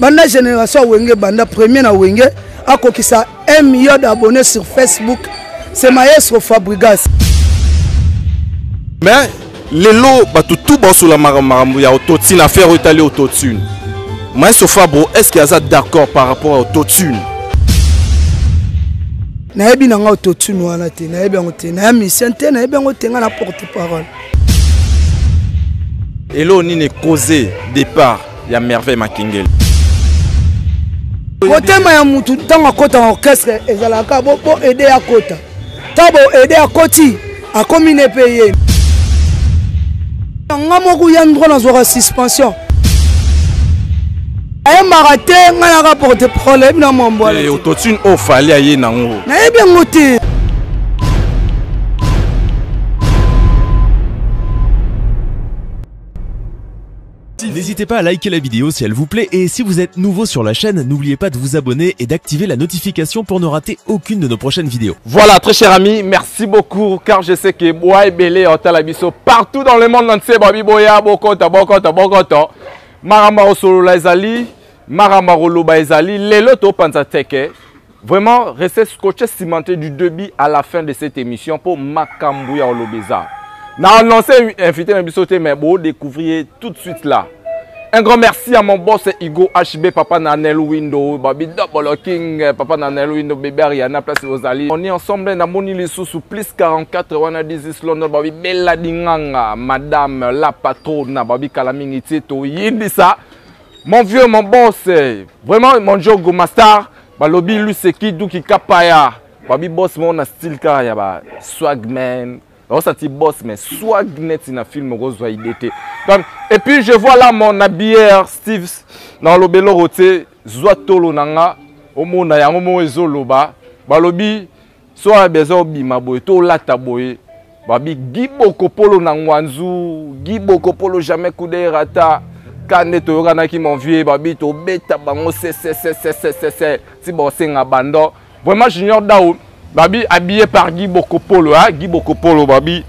banda génération ya wenge banda premier na wenge akokisa 1 million d'abonnés sur facebook c'est maestro fabrigas mais lelo bato tu baosola makambo ya autotune affaire oyo etali autotune maestro fabro est ce que aza d'accord par rapport ya autotune nayebi na ngai autotune wana te nayebi yango te naya misien te nayebi yango te ngai na porte parole elo nini cause départ ya merveille makingeli motema ya mutu ntango akota na orchestre ezalaka bo aide akota ntango bo aide akoti akomi ne mpe ye nga moko ya ndro nazwaka suspension ayembaka te ngai naka porte parole ayebi na mwambwala eh, autotune oyo fali aye nango nayebi yango te N'hésitez pas à liker la vidéo si elle vous plaît et si vous êtes nouveau sur la chaîne, n'oubliez pas de vous abonner et d'activer la notification pour ne rater aucune de nos prochaines vidéos. Voilà, très cher ami, merci beaucoup car je sais que Boa et Belé Otalabiso partout dans le monde entier, Babi Boya, Bokota, Bokota, Bokota, Maramba Osolo Ezali, Maramba Roloba Ezali, Lelo Topanza Teke, Vraiment, restez scotché, cimenté du début à la fin de cette émission pour Makambu ya Olobeza. N'a annoncé invité na bisoté mais bon découvrir tout de suite là. Un grand merci à mon boss Hugo HB, papa Nanel Window, Babi Double King, papa Nanel Window, bébé Ariana, place aux alliés. On est ensemble, n'a moni les sous sous plus 44, wana 10 Londres, Babi Bella Dinganga, madame la patronne, Babi Kalamingi Tieto, Yindisa. Mon vieux, mon boss, vraiment mon jogo master, balobi luseki duki kapaya, babi boss mon na style kaka ya ba swagman, osati boss mais swag net na film okozwa idée te. Et puis je vois là mon habilleur Steve na lobelo rote zwa tolo na nga omona yango mo ezoloba balobi Soir besoin obima boye to lata boye babi Guy Bokopolo na Ngwanzu Guy Bokopolo jamais coup de rata kande toyokanaki mon vieux babi tobeta bango sesesesesesese ti baosenga bando vraiment junior dao babi habillé par Guy Bokopolo hein? Guy Bokopolo babi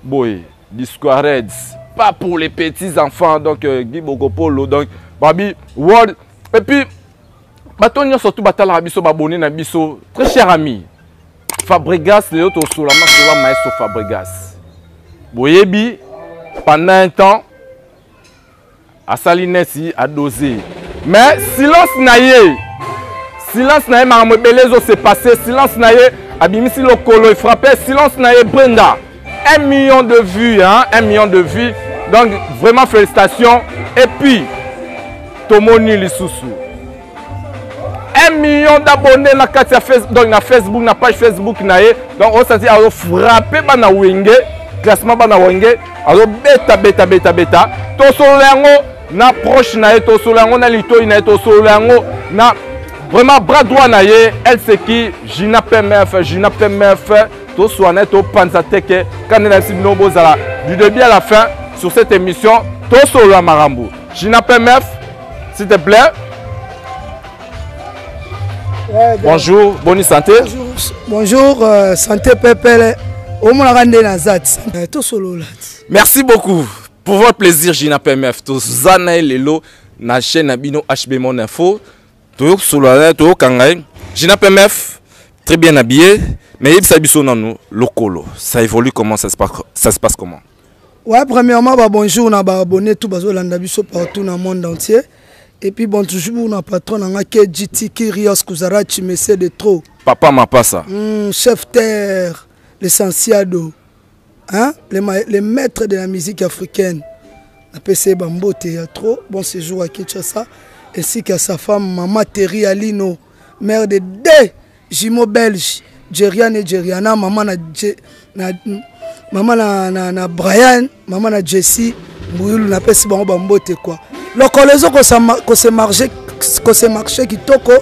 boye discoureds pas pour les petits enfants donc euh, Guy Bokopolo donc babi world et puis bato nyonso tu batalaka biso babone na biso très cher ami fabrigas lelo tosola masola maestro fabrigas boyebi pendant un temps asali neti adose mais silence na ye silence na ye makambo ebele ezosepasse silence na ye abimisi lokolo efrappe silence na ye brenda 1 million de vues, hein? 1 million de vues. Donc vraiment félicitations. Et puis, tomoni lisusu. 1 million d'abonnés na kati ya Facebook, donc na Facebook, na page Facebook na ye. Donc on s'est dit alors frapper bana wenge, classement bana wenge, alors beta beta beta beta. To solo yango na proche na ye, to solo yango na litoyi na ye, to solo yango na vraiment bras droit na ye, elle c'est qui Gina PMF, Gina PMF. toswana topanza teke kanda nayebisi bino bozala du début à la fin sur cette émission tosolola makambo china pmf s'il te plaît ouais, bonjour boni santé bonjour, bonjour euh, santé pepele omonaka nde naza ti euh, tosolola ti merci beaucoup pour votre plaisir china pmf toza na ye lelo na chaîne na bino hb mon info toyo solola naye toyo kanga ye Gina PMF très bien habillé mais yebisa biso nanu lokolo ça évolue comment ça se passe, ça se passe comment Ouais, premièrement, bah, bonjour, na bah, abonné tout, bah, Zolanda Bisso partout dans le monde entier. Et puis, bon, toujours, na patron, na KGT, Kyrios, Kuzarachi, Messé de trop. Papa Mapassa. Mm, chef terre, l'essentiel d'eau. hein? le, le maître de la musique africaine napesi ye bambote ya trop bon séjour à kinshasa ainsi qu'à sa femme mama terri alino mère de deux jumeaux belge jerian et jeriana mama na, na, mama na, na, na brian mama na jessie Mbuyulu na pesi bango ba mbote quoi. Lokolo ezo ko se marcher ko se marcher kitoko.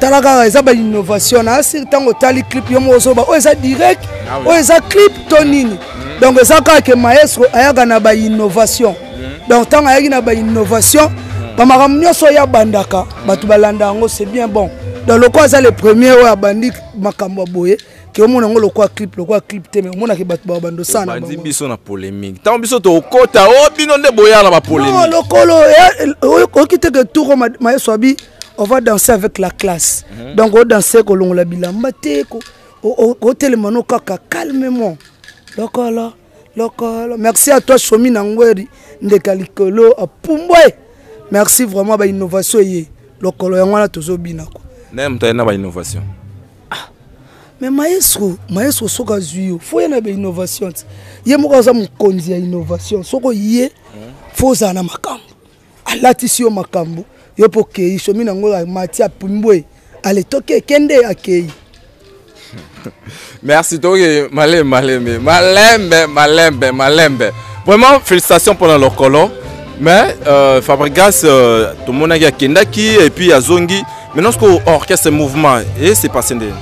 Tala kaka eza ba innovation na asir tango tali clip yo mo ozoba oyo eza direct ah oyo eza clip to nini. Mm. Donc eza kaka ke maestro ayaka na ba innovation. Mm. Donc tango ayaki na ba innovation mm. ba makambo nyonso ya bandaka bato balanda yango c'est bien bon. Donc lokola aza le premier oyo abandi makambo ya boye ke omona yango lokola clip lokola clip te me omonake bato bao bandosana bandi biso na polémique ntango biso tokota o oh, bino nde boya na bapolémique lokolo eh, eh, oyoki te ke tour mayeso abi on va danser avec la classe mhm. donc odanse kolongola bilamba te otelema no kaka calmement lokolo lokolo merci à toi somi na ngweri ndeka likolo apumbwe merci vraiment bainnovation eye lokolo yango wana tozobina ko naye moto aye na bainnovation Ah, mais maestro, maestro soki azwi yo, fo ye na ba innovation. Ye moko aza mokonzi ya innovation. Soko ye fo ozala na makambo. Alatisi yo makambo, yo mpo okei somi na yango mati apimbwe aletoki ekende akei. Merci toke malembe malembe malembe malembe malembe. Vraiment félicitations pour la lokolo. Mais euh, Fabregas euh, tomonaki akendaki et puis azongi maintenant sikoyo orchestre mouvement e se passe nde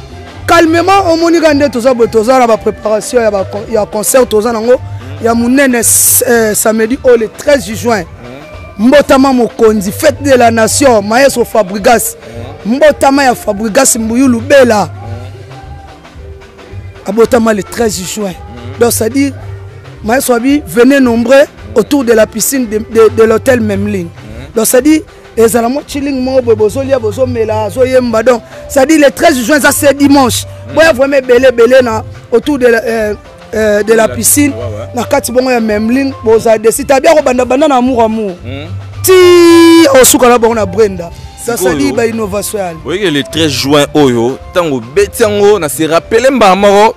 calmement omoni ka nde toza boye toza na bapreparation ya concert toza nango ya monene euh, samedi oyo le 13 juin mbotama mokonzi fete de la nation maestro fabrigas mbotama ya fabrigas mbuyu lubela abotama le 13 juin donc c'est à dire maestro abi venez nombreux autour de la piscine de, de, de l'hôtel memling donc c'est à dire ezala mwa chilling moko boye bozolia bozomela azoyemba donc cestadire le 13 juin eza se dimanche mm. boya vraiment ebele ebele na autour de euh, euh, de la piscine na kati bongo ya memling bozala desi tabi akobanda banda na amour amour mm. ti osuka na bongo na brenda sasali ba innovation yali oyeke le 13 juin oyo ntango obeti yango na se rappele mbala moko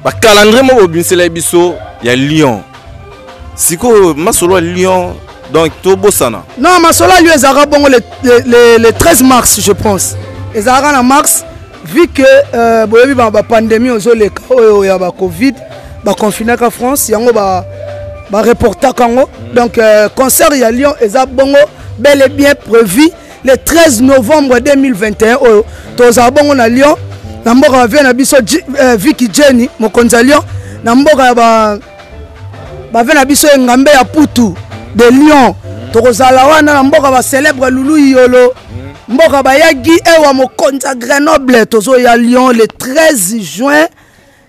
bacalendrier moko bobimisela ye biso ya lyon sikoyo masolo ya lyon donc tobosana non masolo ya lyon ezalaka bongo le, le, le, le 13 mars je pense ezalaka na mars vu que euh, boyebi bapandemie ozoleka oyo ya bacovid baconfinaka france yango bareportaka ba yango mm. donc euh, concert ya lyon eza bongo bel et bien prévu le 13 novembre 2021 oyo tozala bongo na lyon na mboka bavie na biso euh, viki jenny mokonzi ya lyon na mboka ya ba bave na biso engambe ya putu de lion tokozala wana na mboka bacelebre lulu iyolo mboka bayagi ewa mokonzi ya grenoble tozoya lyon le 13 juin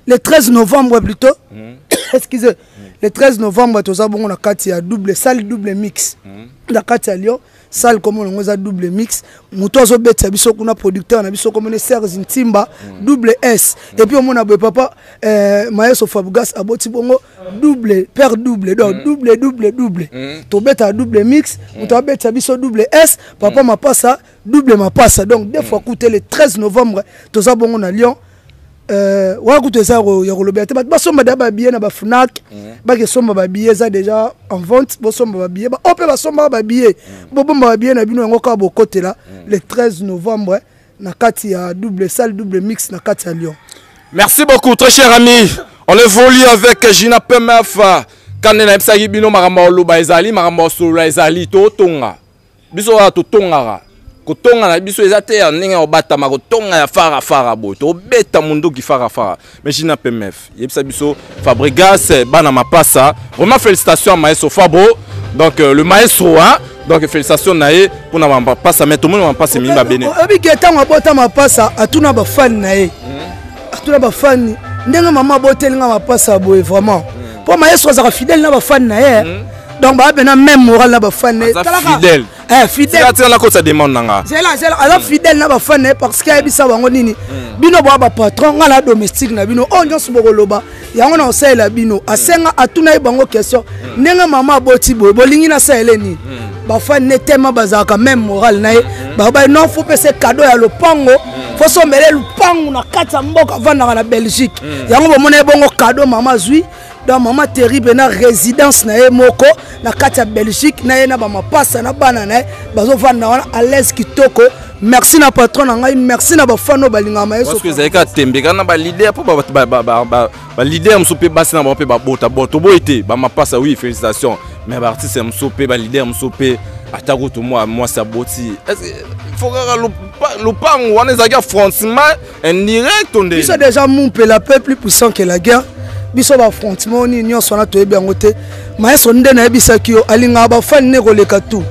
le 13 novembre plutôt mm. excusez mm. le 13 novembre toza bongo na kati ya double salle double mix mm. na kati ya lyon salle comme on eza double mix moto azo betisa biso kuna producteur na biso comme ne Serge Ntimba mm. double S et puis omona boye papa euh, Maestro Fabgas aboti bongo double père double donc mm. double double double mm. to beta double mix moto abetisa biso double S papa mapasa double mapasa donc deux fois coûté le 13 novembre toza bongo na Lyon Euh, wana kutu eza ya kolobela te bato basomba deja babillet na bafunak mhm. bakesomba babillet eza deja en vente bosomba babillet baoyo oh, mpe basombaka babillet mhm. bobomba babillet na bino yango kaka bokotela mhm. le 13 novembre na kati ya double salle double mix na kati ya lyon merci beaucoup très cher ami on évolue avec gina pmf kande nayebisaki bino makambo ya koloba ezali makambo ya kosolola ezali totonga biso wana totongaka kotonga na biso eza te ya ndenge ya kobatama kotonga ya fara fara boye tobeta munduki fara fara mais jina pmf yebisa biso fabregas bana mapasa vraiment félicitation ya maestro fabro donc euh, le maestro hein donc félicitation na ye mpo na mapasa mais tomoni mapasa emingi babene oyebi ke ntango abota mapasa atuna bafani na ye hmm. atuna bafani ndenge mama aboteli nga mapasa boye vraiment mpo hmm. maestro azalaka fidèle na bafani na ye hmm. donc baa pena même moral na bafan na ye fidèle eh, fidèletika nakotisa demande na nga zela zela aza mm. fidèle na bafan na ye parce que ayebisa bango nini mm. bino boa bapatron ngai na domestique na bino oyo oh, nyonso bokoloba yango na kosalela bino mm. asenga atuna ye bango question ndenge mama aboti boye bolingi nasalele nini bafan ne tellement bazalaka même moral na ye babai non fo pese cadeau ya lopango fo sombele lopango na kati ya mboka avandaka na belgique yango bomona ye bongo cadeau mama azwi donc mama terrible na résidence na ye moko na kati ya belgique na ye na bamapasa na bana na ye bazovanda wana alaise kitoko merci na patron na ngai merci na bafano balingaka mayesoezalaki atembeka na balider mpo balider mosusu mpe basi na bango mpe babota boto boye te bamapasa wi félicitation mais baartiste mosusu mpe balider mosusu mpe ata kutu mwasi aboti fo kaka lopango wana ezalaki ya francement indirect nde biso déjà mumpe la paix plus puissant que la guerre biso bafrontement nini nyonso wana toyebi yango te maestro nde nayebisaki yo alingaka bafani nde koleka tout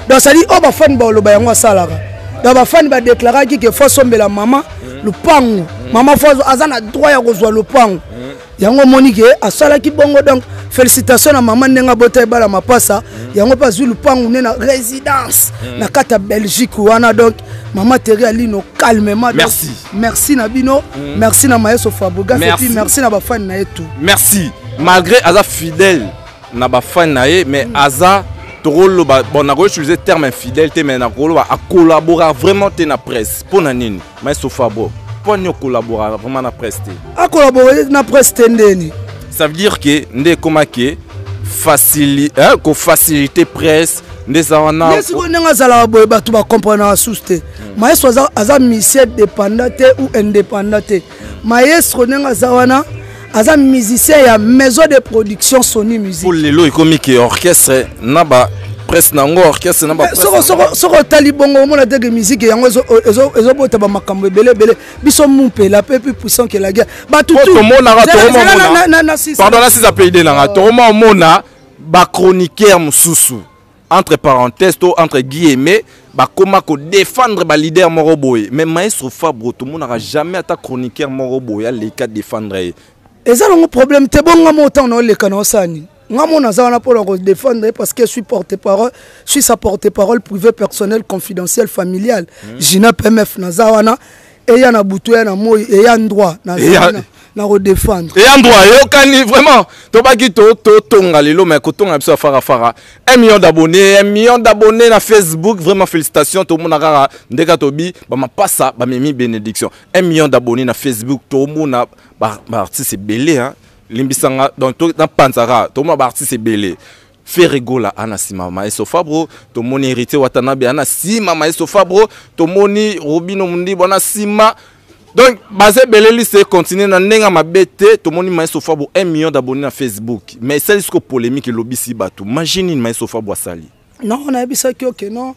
donc sadi oyo bafani baoloba yango asalaka donc bafani badeklaraki ke fo asombela mama mm. lopango mm. mama fo aza na droit ya kozwa lopango mm. yango omoni ke asalaki bongo donc félicitation na mama ndenge abota ebala mapasa mm. yango mpe azwi lupangu nde na résidence mm. na kati ya belgique wana donc mama teri alino calmement merci merci na bino mm. merci na mayeso fabrigas epuis merci na bafani na ye tout merci malgré aza fidèle na bafani na ye mais mm. aza tokoloba bon nakoki utiliser terme infidèle te mais nakoloba akolabora vraiment te na presse mpo na nini Maestro Fabo, pourquoi nous collaborons vraiment na presse A collaborer na presse ndeni. Ça veut dire que nde comment que facili hein, ko faciliter presse ndeza wana. Mais si on nga zala boye batu ba comprendre na sous te. Hmm. Maestro aza aza mission dépendant ou indépendant. Maestro nga zawana aza musicien ya maison de production sony musique lelo ekomi ke orchestre na ba presse na yango orchestre na ba soko otali bongo omona teke musique yango ezobota bamakambo ebele ebele biso mumpela mpe mpe puissant ke la guerre batutomonaka tokomamonapardon nasisa payde nanga tokomaomona bachroniqueur mosusu entre parenthèse to entre guillemets bakoma ko défendre ba leader moko boye mais maestro fabro tomonaka jamais ata chroniqueur moko boye aleka défendre ye eza nango problème te bo nga mo ntango naoleka na osala nini nga mo naza wana mpo na kodéfendre ye parce que suis porte parole suis sa porte parole privé personnel confidentiel familial mm. gina pmf naza wana eya na butu eya na moi eya ndroit nakodefendre eya ndroit eyokani vraiment tobaki totonga lelo mai kotonga biso ya farafara un million d'abonné un million d'abonné na facebook vraiment félicitation tomona kaka ndeka tobi bamapasa bamemi bénédiction un million d'abonné na facebook tomona baartiste ebele limbisanga donc napanzaka tomona baartiste ebele Ferre Gola ana sima Maestro Fabro tomoni Heritier Watanabe ana sima Maestro Fabro tomoni Robino Mundibo ana sima donc baza ebele liste continue na ndenge ya mabe te tomoni maestro fabo 1 million d'abonné na facebook mais esali siko polémique elobisi bato magie nini maestro fabo asali non nayebisaki oke okay, non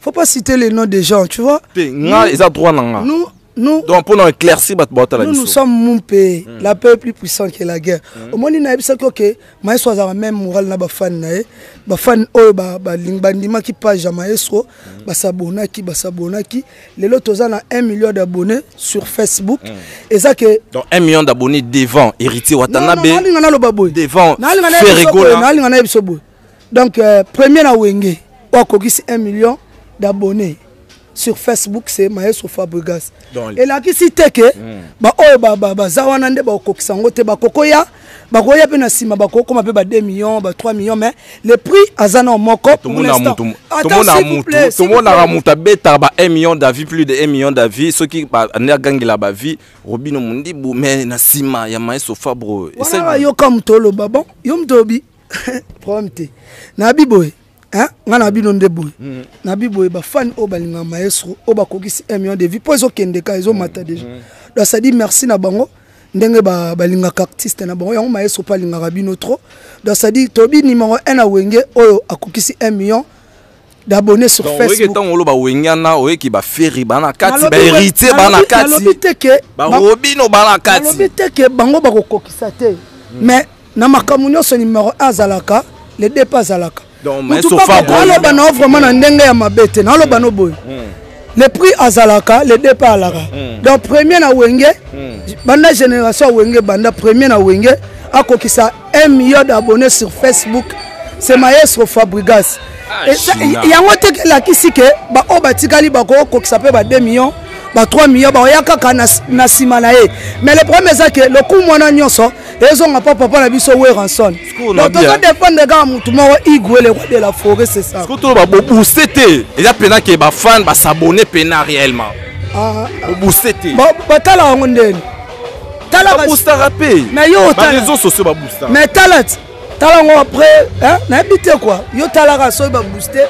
faut pas citer les noms des gens tu vois te nga eza droit na nga nous nous donc pour nous éclaircir bato baotala biso nous sommes mon pays mm. la paix est plus puissant que la guerre mm. omoni nayebisaki oke maestro azalaka même moral na bafani na ye bafani oyo bandimaki page ya maestro mm. basabonaki basabonaki lelo toza na 1 million d'abonnés sur facebook mm. eza ke donc 1 million d'abonnés devant héritier watanabe nalinga naloba boye devant ferregola nalinga nayebiso boye donc euh, premier na wenge oyo akokisi 1 million d'abonnés sur facebook c'est maestro fabrigas elakisi te ke hmm. baoyo baza wana nde bakokokisa yango te bakokoya bakoya mpe na nsima bakokoma mpe ba 2 millions ba 3 millions mais le prix aza nao moko tomonaka moto abetaka ba 1 million d'avis plus de 1 million d'avis soki ande agangela bavie robino mondibu mais na nsima ya maestro fabro wana yoka moto oloba bon yo moto olobi problème te nayebi boye nga na bino nde boye mm. na bi boye bafani oyo balinga maestro oyo bakokisi 1 million de vie mpo ezokende ka ezomata mm. déjà mm. donc sadi merci na bango ndenge balingaka ba artiste na bango yango maestro mpe alingaka bino trop donc sadi tobi nimero 1 na wenge oyo akokisi 1 million d'abonner sur Donc, oyeke Facebook. ntango oloba wengana oyeki baferi baa na kati Nalobi- baheritier baa na nalobi- kati nalobi te ke ba- barobino baa na kati nalobi te ke bango bakokokisa te mais na makambo nyonso numero 1 azalaka le dp azalaka Donc, mais Mutu sofa papa, boye. naloba na yo vraiment na ndenge ya mabe te naloba no boye le prix azalaka le départ alaka mm. donc premier na wenge mm. banda génération ya wenge banda premier na wenge akokisa 1 million d'abonnés sur facebook c'est maestro fabrigas ah, yango te elakisi ke baoyo batikali bakokokisa mpe ba 2 millions ba 3 millions baoya kaka na nsima na ye mais le problème eza ke lokumu wana nyonso ezonga pa papa na biso weranson donc tozo dépendre kaka motu moko igwe le roi de la forêt c'est ça toloba bobooste te eza mpena ke bafane basabone mpena réellement ah, ah. bobooste te batala yango ndeni talabustaka mpe na yo otareseau sociaux babusta mais tala ti tala yango après nayebi te kua yo talaka soki babooste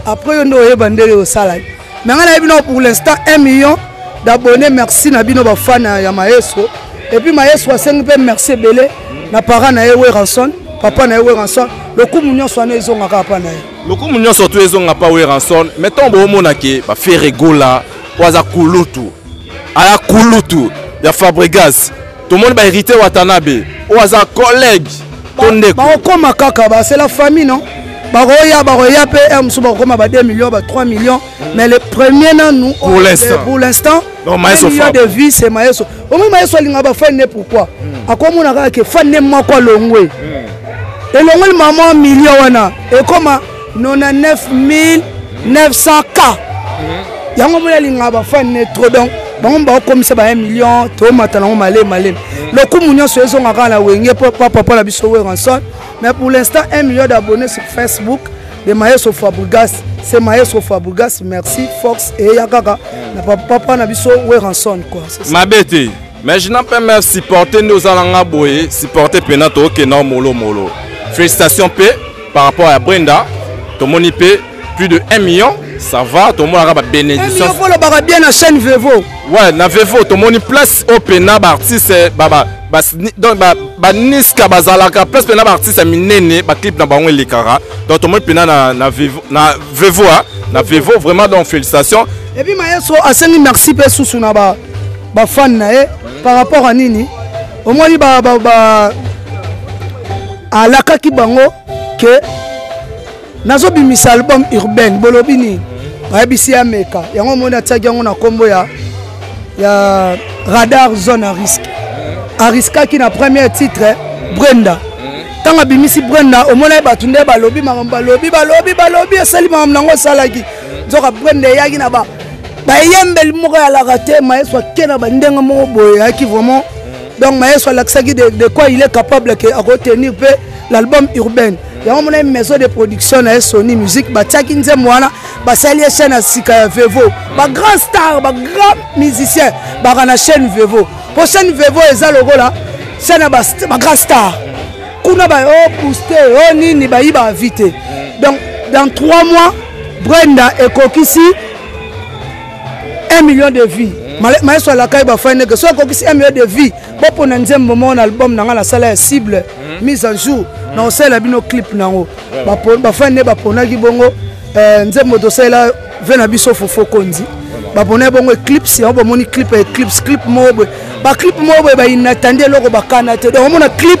après yo nde oyeba ndenge osalaki me ngai nayebi nao pour l'instant 1 million d'abonné merci na bino bafana ya maestro epuis maestro asengi mpe merci ebele na parent na ye weranson papa na ye weranson lokumu nyonso wana ezongaka apa na ye lokumu nyonso tu ezonga pa weranson mai ntango boomona ke bafere gola oyo aza kulutu aya kulutu ya fabregas tomoni ba héritier watanabe oyo aza collègue to ndeko bakokoma kaka basela famille non bakoya bakoya mpe heure mosusu bakokoma ba 2 millions ba 3 millions mais le premier nanu pour l'instant million de vie c'est mayeso omoi mayeso alinga bafani ne pourquoi hmm. akomona kaka ke fani ne moko alongwe hmm. elongoli mama million wana ekoma 99900 k yango moni alingaka bafani ne trop donc bango baokomisa ba 1 million tomata nango male male lokumu nyonso ezonga kaka na wenge mpo papa mpo na biso weranson mais pour l'instant 1 million d'abonnés sur facebook de maestro fabrigas c'est maestro fabrigas merci fox eya kaka na papa na biso weranson quoi mabe te Mais je n'en peux même supporter nde oza na nga boye supporter mpena tookenda molomolo félicitation mpe par rapport ya brenda tomoni mpe plus de 1 million ça va tomonaka babénédiction olobaka bien na chaîne vevo ouais na vevo tomoni place oyo mpena baartiste baniska bazalaka place mpena baartiste ya minene baclipe na bango elekaka donc tomoni mpena na vevo na vevo vraiment donc félicitation epuis maestro asengi merci mpe susu na ba ba fan na ye par rapport à nini omoni ba, ba, ba alakaki bango ke nazobimisa album urbaine bolobi nini bayebisi ye ameka yango omoni atiaki yango na nkombo ya, ya radar zone à risque ariskaki na premier titre brenda ntango abimisi brenda omonaki bato nde balobi makambo balobi balobi balobi esali makambo nango esalaki nzoka brenda eyaki na ba bayembeli moko ya laka te maestro ake na bandenge moko boye yaki vraiment donc maestro alakisaki de quoi il est capable ke akotenir mpe l'album urbaine yango mona maison de production na ye sony musique batiaki nzembo wana basali ye chaîne ya sika ya vevo bagrand star bagrand musicien baka na chaîne vevo mpo chaîne vevo eza lokola chaîne ya bagrand star kuna ba o oh, booste o oh, nini bayi baavi te donc dans trois mois brenda ekokisi 1 million de vie maestro alakai bafai ndeke soki akokisi 1 million de vie bopona nzembo moko na album na ngai nasala ya cible hmm. mise en jour hmm. na kosalela bino clip na yango bafai nde baponaki bongo eh, nzembo tosalela ve na biso fofo konzi baponaki bongo eclipse yango bamoni clip ya eclipse clip moko boye baclip moko boye bainatandi eloko bakana te donc omona clip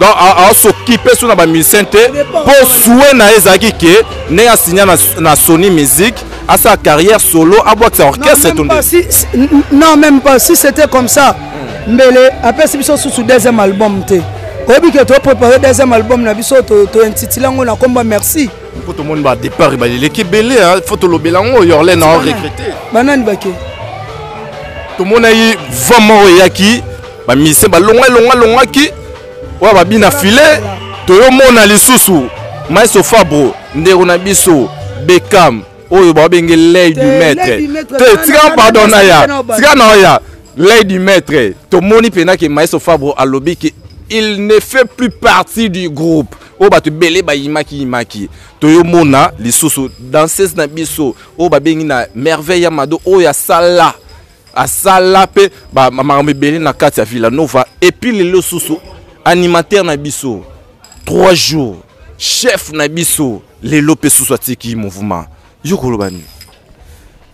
donc asokipe so na bamusicien te mpo sue na ye ezalaki ke ndenge asinya na sony musique asala carrière solo abwakisa orchestre to non même pas si c'était comme ça hmm. mbele apesi biso susu deuxième album te oyebi ke toprépare deuxième album na biso tointitile yango na komba merci mpo tomoni badépart baleleki ebele fo tolobela yango yorle na recruté banani bake tomonaki vent moko eyaki ba musiciens ba longa longa longa ki wa ba bina filet toyo mona lisusu maestro fabro ndeko na biso bekam oyo babenge lei du maître te tika pardon na ya tika na ya lei du maître tomoni mpenza ke maestro fabro alobi ke il ne fait plus partie du groupe oyo bato ebele bayimaki yimaki toyomona lisusu danseuse na biso oyo babengi na merveille ya mado oyo asala asala mpe makambo ebele na kati ya villanova epuis lelo susu animateur na biso 3 jours chef na biso lelo mpe susu atiki mouvement yo koloba nini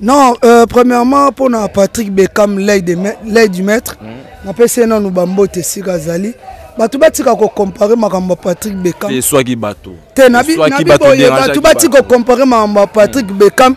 non euh, premièrement mpo na patrick beckham lei du maître mm. napesi ye nanu bambote esika azali bato batika kocompare makambo ya patrick beckham eswaki bato te nabiboye bato batika kocompare makambo ya patrick mm. beckham mm.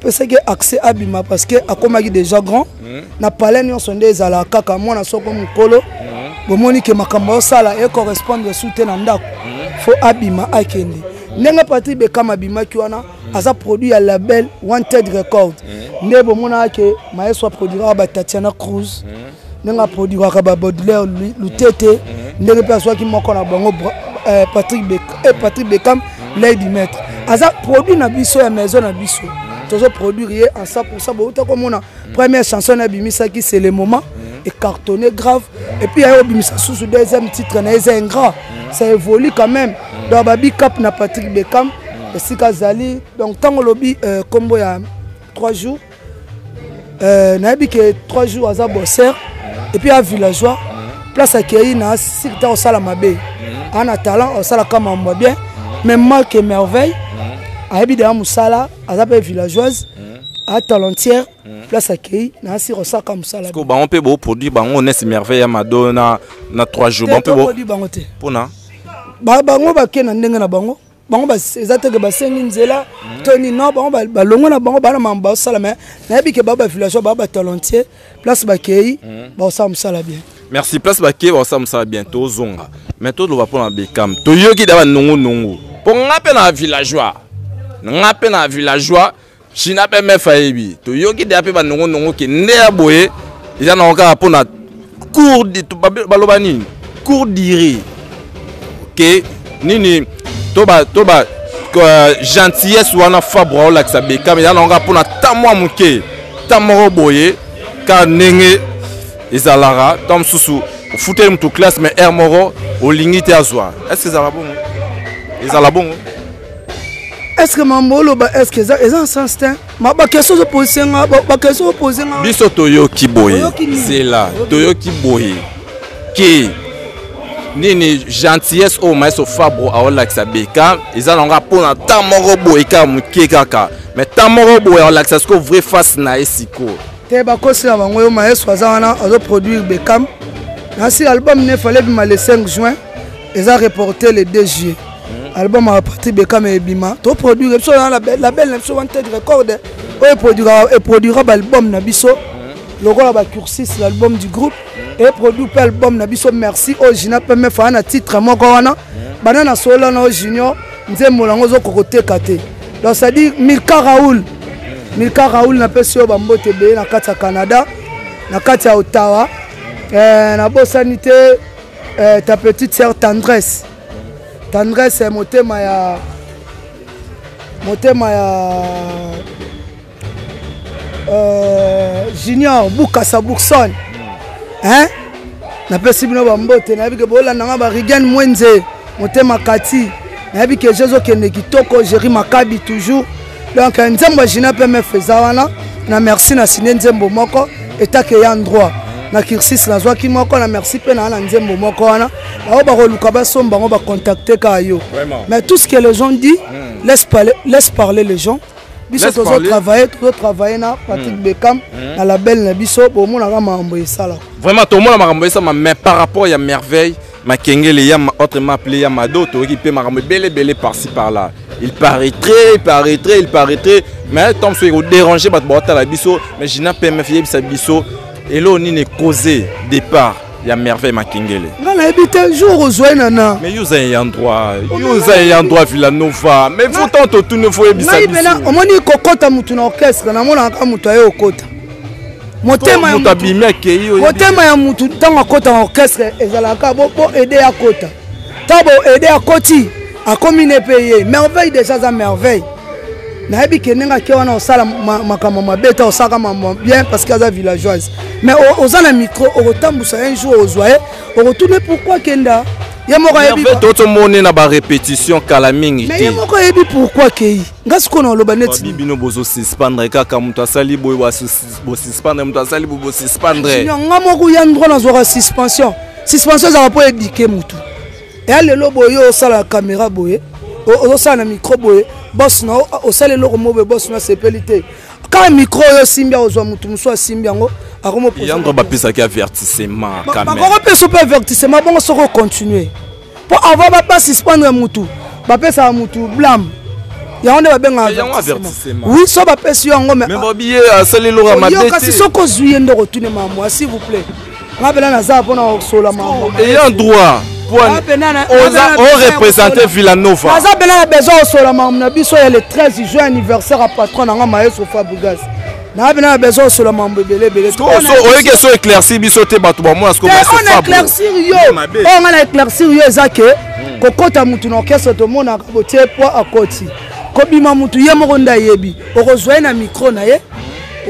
pesaki accès abima parce que akomaki déjà grand hmm. na palais nyonso nde ezala kaka mwana soko mokolo hmm. bomoni ke makambo osala ecorrespondre su te na ndako hmm. fo abima akende ndenge patrik bekam abimaki wana aza produit ya label wanted record nde bomonaka ke maestro aproduiraka batatiana cruz ndenge aproduiraka ba baudelaire lutete mhm. ndenge mpe azwaki moko na bango eh, patrick eh, patrick beckham mhm. lady maître aza produit na biso ya maison na biso mhm. tozo produire ye en 100 pourcent bouta komona première chanson na abimisaki c'est le moment ecartonné grave et puis aye obimisa susu deuxième titre na ye eza ingrat ça évolue quand même donc babi cap na patrick beckham esika azali donc ntango olobi nkombo euh, ya 3 jours Euh, nayebi ke 3 jours aza bosser et puis a villageois place akei na sikita kosala mabe ana talent asalaka mambo ya bien mais marque merveille ayebi deya mosala aza mpe villageoise a talentière place akei na asir osalaka mosala bango mpe boproduit bango nesi merveille ya mado na 3 jours bango mpe bango te mpona bango bakei na ndenge na bango bango eza te ke basengi nzela mhm. to nini non bango balongo na bango bana mambo basala mai nayebi ke baa bavillageois baa batalentier place bakei mhm. bakosala mosala bien merci place bakei bakosala mosala bien tozonga mai toloba mpo na bekam toyoki da banongonongo mpo nga mpe na villageois nga mpe na villageois China pe mefa ayebi toyoki deja pe banongo nongo ke nde ya boye eza nango kaka mpo na cour baloba nini cour dire ke nini to ba to ba euh, gentillesse wana fabre aolakisa bekame eza nango kaka mpo na ta mwa moke ta moko boye kaka ndenge ezalaka ntango mosusu ofuteli moto classe mais heure moko olingi te azwa est ce que ezalaka bongo ezala bongo eske mambo oloba eske eza eza sens te bakestion ozopose nga bakestion ozopose nga biso toyoki boye zela toyoki boye ke nini gentillesse oyo maestro fabro aolakisa beka eza na nga mpo na ntan moko boye kaka moke kaka mais ntan moko boye aolakisa sikoyo vrai face na ye sikoyo te bakosi na bango yo maestro aza wana azoproduire bekam nasi album ne fale bima le 5 juin eza reporte le 2 juillet hmm. album ya patri bekame ebima toproduire biso na label na biso wanted record oyo eproduira baalbum na biso hmm. lokola bacursis l'album du groupe hmm. eproduit mpe album na biso merci oyo gina peme faa na titre moko wana banda na solo na oyo junior nzembo yango ozokokoteka te donc c'est-à-dire milka raoul milka raoul napesi yo bambote ebele na kati ya canada na kati ya ottawa eh, nabosani te eh, ta petite sœur tendresse tendresse eh, motema ya motema ya euh, junior bukasa bourson hein napesi bino bambote nayebi ke bolanda nga barigen mwenze motema kati nayebi ke jezokende kitoko jeri makabi toujours donc nzembo ya jina pmf eza wana na merci na sine nzembo moko etake ya ndroit na kirsis nazwaki moko na merci mpe naa na nzembo moko wana bango bakoluka basomba bango bacontacte kaka yo mais tout ce que les gens dit mm. laisse, parler, laisse parler les gens biso tozotravaille tozotravaille na patrick hmm. beckham hmm. na label na biso bomonaka makambo esalaka vraiment tomona makambo esalama mais par rapport ya merveille Makengele ya autrement appelé ya Mado toyoki mpe makambo ebele ebele par-ci par-là. Il paraîtrait, il paraîtrait, il paraîtrait mais tant soki ekoderange bato baotala biso mais Gina PMF yebisa biso eloo nini cause départ ya merveille makengele nga nayebi te jour ozwa ye nana mais yo oza ye endroit yo oza ye endroit villanova mais pourtant totuni fo yebisa biso omoni kokota motu na orchestre namonaka motu aye okota motema ya mutu motema ya mutu ntango akota na orchestre ezalaka bo bo aide akota ntango bo aide akoti akomi ne mpe ye merveille deja aza merveille nayebi ke ndenge ake wana osala makambo mabe te osalaka mambo bien parce que aza villageoise mais oza na micro okotambusa un jour ozwa ye okotune pourquoi kenda ye moko ayebi totomoni na barépétition kala mingi te ye moko ayebi pourquoi kei nga sikoyo na oloba neti babi bino bozo suspendre kaka moto asali boye bosuspendre moto asali boye bosuspendre nga moko ya ndroit nazwaka suspension suspension ezalaka mpo edike motu eya lelo boye osala kamera boye ozosala na micro boye bos na osala eloko mo boye bos na asepeli te kaka micro oyo osimbi akozwa motu mosusu asimbi yango akomoyango bapesaki avertissement bakopesa mpe avertissement bongo soki ocontinue mpo avant bapa suspendre mutu bapesaka mutu blame yango nde babengaka oui so bapesi yo yango meokasi soki ozwi ye nde okotune mamwa s'il vous plaît nga mpena naza mpona kosola mamwa ayant droit orepresente villanova naza mpena na besoin kosola mambo na biso ya le 13 juin anniversaire ya patron na nga maestro fabrigas na bino na besoin osolo mambo ebele ebele oyeki eso éclaircir biso te bato bamona sikoon éclaircir yo oyo oh, ngai na éclaircir yo eza ke hmm. kokɔta motu na orchestre tomonaka botie poi akoti kobima motu ye moko nde ayebi okozwa ye na micro na ye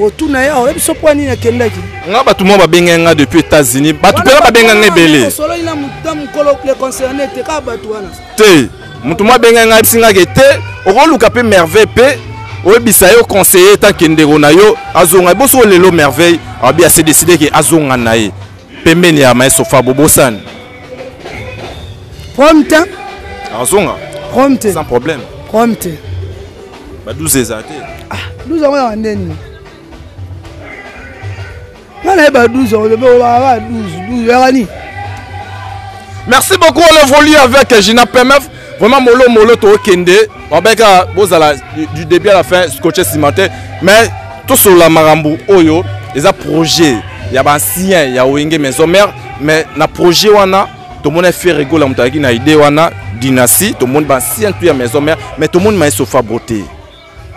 otuna ye oyebi so mpo nini akendaki nga bato moko babengaki nga depuis états-unis bato mpena babengaki nga ebele osololi na mokolo le concerné te kaka bato wana te moto mwa abengai ngai ayebisi ngai ke te okoluka mpe merveille mpe oyebisa yo conseiller etanke ndeko na yo azonga eboso lelo merveille abi ase décide ke azonga na ye pembeni ya maestro fabo bosani prompte azonga prompte sans problème prompte ba 12 eza te ah 12 yango ya ndeni nga nayeba 12 olobi olobaka 12 12 yaka nini merci beaucoup on évolue avec gina pmf vraiment molo molo tokende babeka bozala du début à la fin scotche nsima te mais tosolola makambo oyo eza projet ya baancien ya wenge maison mère mais na projet wana tomoni fere egola moto ayaki na idée wana dynastie tomoni baancien tu ya maison mère mais tomoni maesofabro te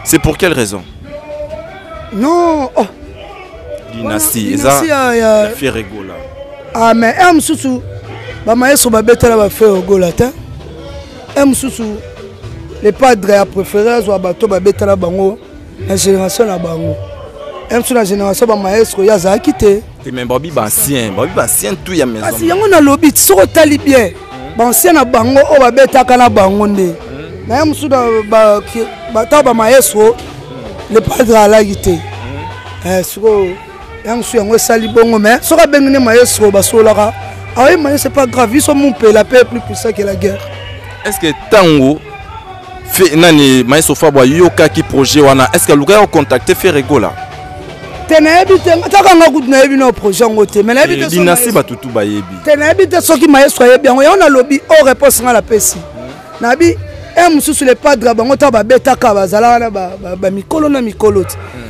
c'est pour quelle raison non oh. dynastie eza ya fiere gola ah mais un mosusu bamaestro babetela bafiere gola te un mosusu le padre ya préféré azwa bato babetela bango na génération na bango un mosusu na génération bamaestro ye azalaki te te mais babi baancien babi baancien tu ya maison kasi yango nalobi soki otali bien bansien na bango oyo babetaka na bango nde hmm. naye mosusu ntango bamaestro le padre alaki te hmm. eh, sikoyo ya mosusu yango esali bongo mai soki abengi nde maestro basololaka aoye ah maestro epa grave biso mompela mpe plus puissant que la guerre est ce que ntango Fe, nani maestro Fabo ayokaki projet wana est-ce que alukaki kocontacte Ferre Gola te nayebi te kaka nga kutu nayebi na projet yango te mais nayebi dinasi bato tu bayebi te nayebi te soki maestro ayebi yango yango nalobi o oh, réponse nga napesi nayebi e eh, mosusu le padre bango ntango babetaka bazalaka na bamikolo na mikolo te hmm.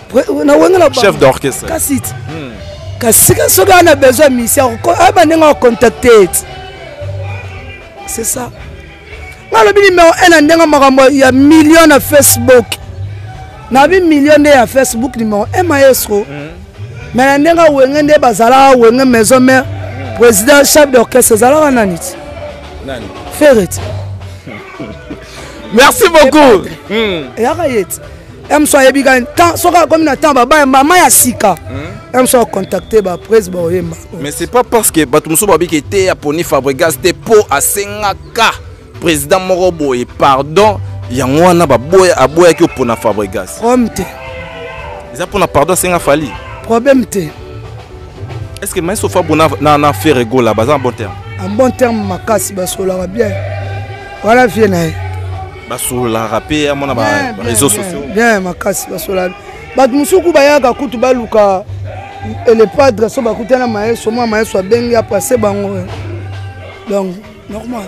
na wenge na chef d'orchestre kasi hmm. kasi soki ana besoin misia ayeba ndenge akontacte c'est ça nga alobi nimero 1 na ndenge makambo ya million na facebook nabi million nde ya facebook nimero 1 maestro hmm. me na ndenge awenge nde bazalaka wenge maison mare hmm. président chef d'orchestre ezalaka nani ti ferre ti merci beaucoup eyaka ye ti emso ayebi kani temps soki akomi na temps babaya mama ya sika emso hmm? akontacte bapres baoyemba mais c'est pas parce que bato mosusu babiki te aponi fabregas te mpo asengaka président moko boye pardon yango wana baboya aboyaki opona fabregas problème te eza mpona pardon asenga fali problème te est ce que maestro fabo na, na, na ferre gola baza en bon terme en bon terme makasi basolaka bien wana vie na ye basololaka mpe ya mona bareseau sociaux bien makasi basolaka bato mosusu ku bayaka kutu baluka elepadre so bakutana maeso mwa maeso abengi apase bango eh. donc normal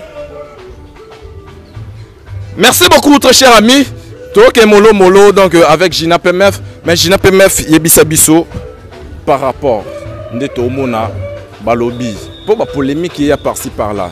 merci beaucoup très cher ami toke molo molo donc euh, avec gina pmf mais gina pmf yebisa biso par rapport nde tomona balobi mpo bapolémike ya parci par là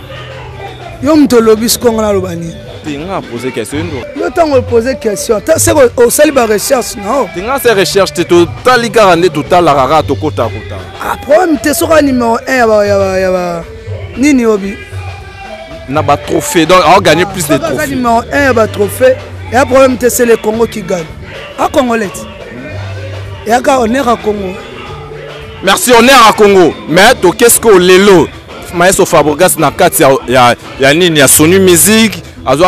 yo moto olobi sikongo naloba nini te nga apose question ndo yo ntango opose question seko osali barecherche nao te nga se recherche te totali kaka nde totalaka kaka tokota kota ah, problème te soki a numero 1 ya ba nini obi na batrophée donc aogagné plus de trophée numero 1 ya batrophée ya problème te se le congo qui gagne a congolais ti eyaka honneur ya congo merci honneur ya congo mais tokesko lelo Maestro Fabregas na kati ya, ya, ya nini ya Sony Music azo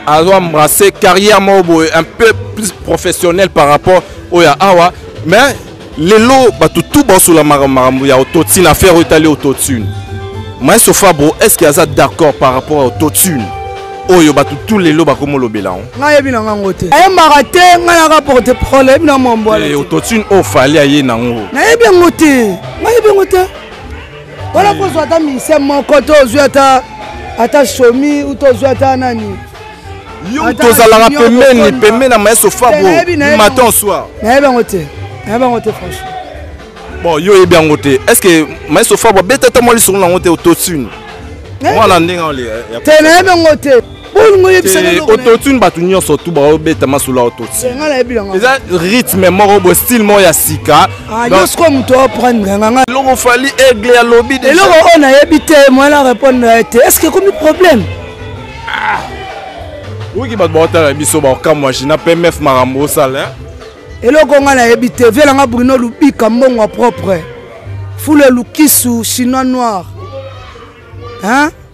azo embrasser carrière moko un peu plus professionnel par rapport au ya awa mais lelo bato tu basolamaka makambo ya autotune affaire oyo etali autotune maestro fabro est ce que aza d'accord par rapport ya autotune oyo bato tu lelo bakomolobela yango ngai yebi na ngango te ayembaka te ngai naka porte parole ayebi na mwambo eh, autotune oyo fali aye nango nayebi yango te ngai yebi yango te wana kozwa ata mise moko to ozwi ata ata somi uto ozwi ata nani yo tozalaka pembeni pembeni na maestro fabo matin au soir nayebi yango te nayebi yango te franchement bon yo oyebi yango te est ce que maestro fabo abeta ata mwa lisolo na yango te otosuni mwana ndenge te nayebi yango te bolingo oyebisaka eloko na- autotune bato nyonso tu baobeta masolo ya autotune Eh, ngai nayebi yango eza rythme moko boye style moko ya sika Ah, Donc, nyonso kwa moto aprendre yanga ngai eloko fali aigle alobi déjà. eloko oyo nayebi te moyen na répondre na ye te est ce que ekomi problème oyoki bato baotala biso baokamwa jina pmf makambo osala hein? eloko ngai nayebi te vie nanga bruno lubika mbongo ya propre fule lukisu chinois noir hein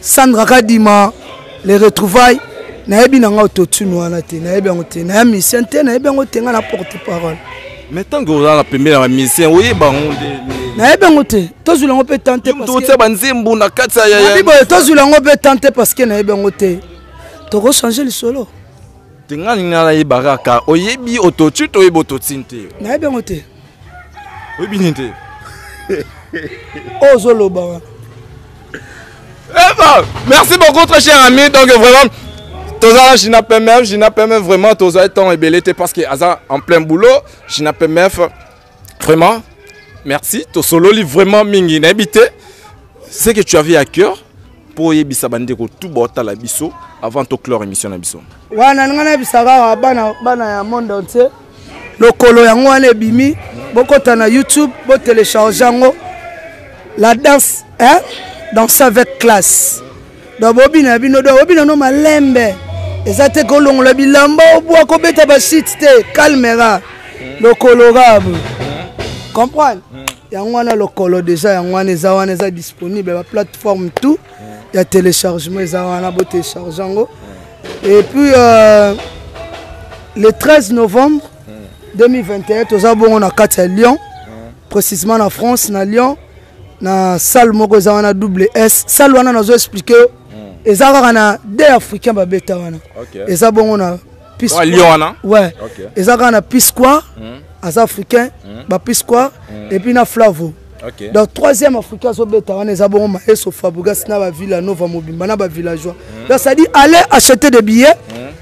sandra kadima le retrouvaille nayebi na ngai autotune wana te nayebi yango te naya musicien te nayebi yango te ngai na porte parole mais ntango ozalaka pembeni ya bamusicien oyeba yango nde nayebi yango te tozwila yango mpe tan teotia banzembo na kati yabiboye tozwila yango mpe tan te parce que nayebi yango te tokochange lisolo te ngai ninga nayebaka kaka oyebi autotune toyebi autotune te nayebi yango te oyebi nini te ozoloba oh, wana eh merci beaucoup très cher ami donc vraiment tozala jina pmf jina pmf vraiment tozali ntango ebele te parce que aza en plein boulot jina pmf vraiment merci tosololi vraiment mingi nayebi te ce que tu avais à cœur mpo oyebisa bandeko tu baotala biso avant toclore émission na biso wana nga nayebisaka awa bana, bana ya monde entier lokolo yango wana ebimi bokota na youtube botelecharge yango la danse hein? danse avec classe donc bobina bino donc bobina no malembe eza te kolongola bilamba obwa kobeta bashite te calmera lokolo rabe comprendre yango wana lokolo deja yango wana eza wana eza disponible ba plateforme tout ya téléchargement eza wana bo télécharge yango et puis euh, le 13 novembre 2021 toza bongo na kati ya lyon précisément na france na lyon na salle moko eza wana double s salle wana nazo explike yo eza kaka na de africain babeta wana eza bongo na Peace Lion Square. wana Ouais. Ok. Eza kaka na Peace Square, Hmm. aza africain, ba Peace Square, Hmm. et puis na Flavo. Ok. Donc troisième africain azobeta wana eza bongo Maestro Fabregas na ba Villa Nova mobimba na ba villageois. Donc ça dit allez acheter des billets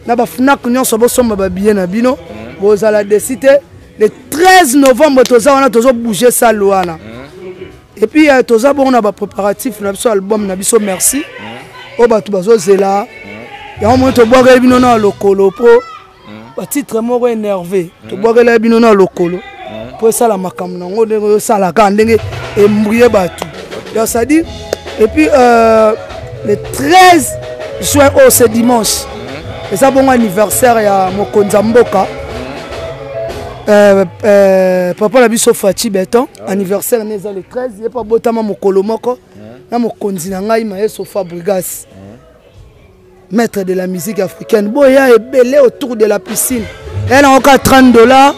na ba Fnac nyonso bosomba ba billets na bino. Bozala desite le 13 novembre toza wana tozo bouger salle wana. et puis euh, toza bongo na ba préparatifs na biso album na biso merci oyo oh, bato bazozela yango moni tobwakeli bino na lokolo mpo batitre moko énervé tobwakela bino na lokolo mpo esala makambo nango ndenge oyosalaka ndenge embrie bato donc c'est-à-dire et puis euh, le 13 juin oyo oh, ce dimanche eza bongo anniversaire ya mokonzi ya mboka euh, euh, papa na biso faci beton ah anniversaire na eza le 13 ye mpe abotama mokolo moko na mokonzi na ngai maestro fabrigas maître de la musique africaine boya ebele autour de la piscine eya nango ka 30 dollars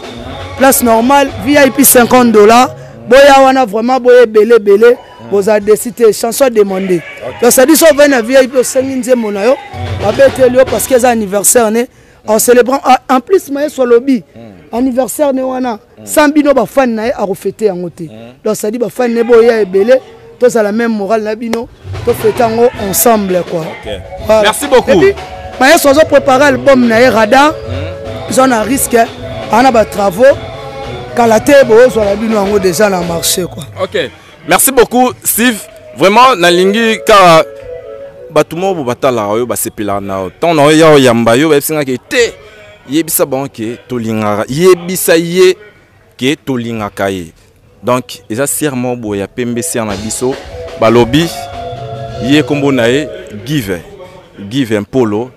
place normale vip 50 dollars boya wana vraiment boya ebele ebele bozala desi te chanson ademande donc sadi so ovai na vip osengi nzembo na yo babeteli yo parce que eza anniversaire ne en célébrant ah, en plus mayesu alobi hmm. anniversaire ne wana hmm. sans bino bafani na ye akofete yango te hmm. donc sadi bafani ne boya ebele tozala même morale na bino tofete yango ensemble quoi okay. voilà. merci beaucoup epuis mayesu azo prépare album na ye radar eza na risque ana batravaux kala te bozwala bino yango déjà na marché quoi okay. merci beaucoup steve vraiment nalingi kaka bato moko bo batalaka oyo basepelaka na yo ntango na yo ya oyamba yo bayebisi nga ke te yebisa bango ke tolingaka yebisa ye ke tolingaka ye donc eza sere moko boye ya pembe sere na biso balobi ye nkombo na ye give give mpolo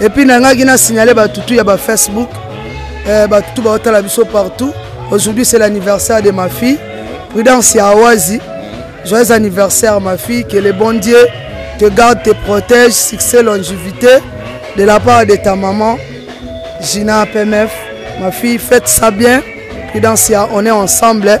epuis nangaki na signale bato tu ya bafacebook eh, bato tu baotala biso partout aujourd'hui c'est l'anniversaire de ma fille prudence ya awazi joyeux anniversaire ma fille que le bon dieu te garde te protège succès longivité de la part de ta maman gina pmf ma fille faites ça bien prudence ya on est ensemble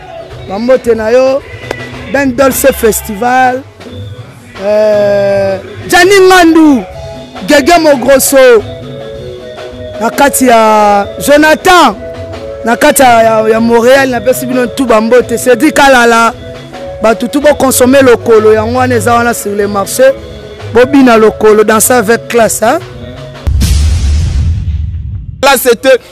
bambote na yo ben dolce festival euh, jani ngandu gege mogroso na kati ya jonathan na kati ya, ya, ya montréal napesi bino tu bambote cedrik alala bato tu bokonsome lokolo yango wana eza wana sur le marché bobina lokolo danse avec classe hein? Là, c'était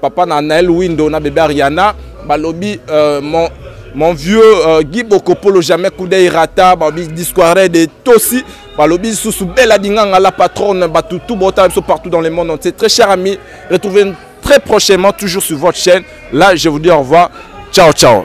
Papa na Nael Windo na bebe Ariana balobi euh, mon mon vieux euh, Guy Bokopolo jamais coup d'œil rata balobi disquare de Tosi balobi lisusu Bella Dinganga la patronne batu tout bota biso partout dans le monde entier très cher ami retrouvez très prochainement toujours sur votre chaîne là je vous dis au revoir ciao ciao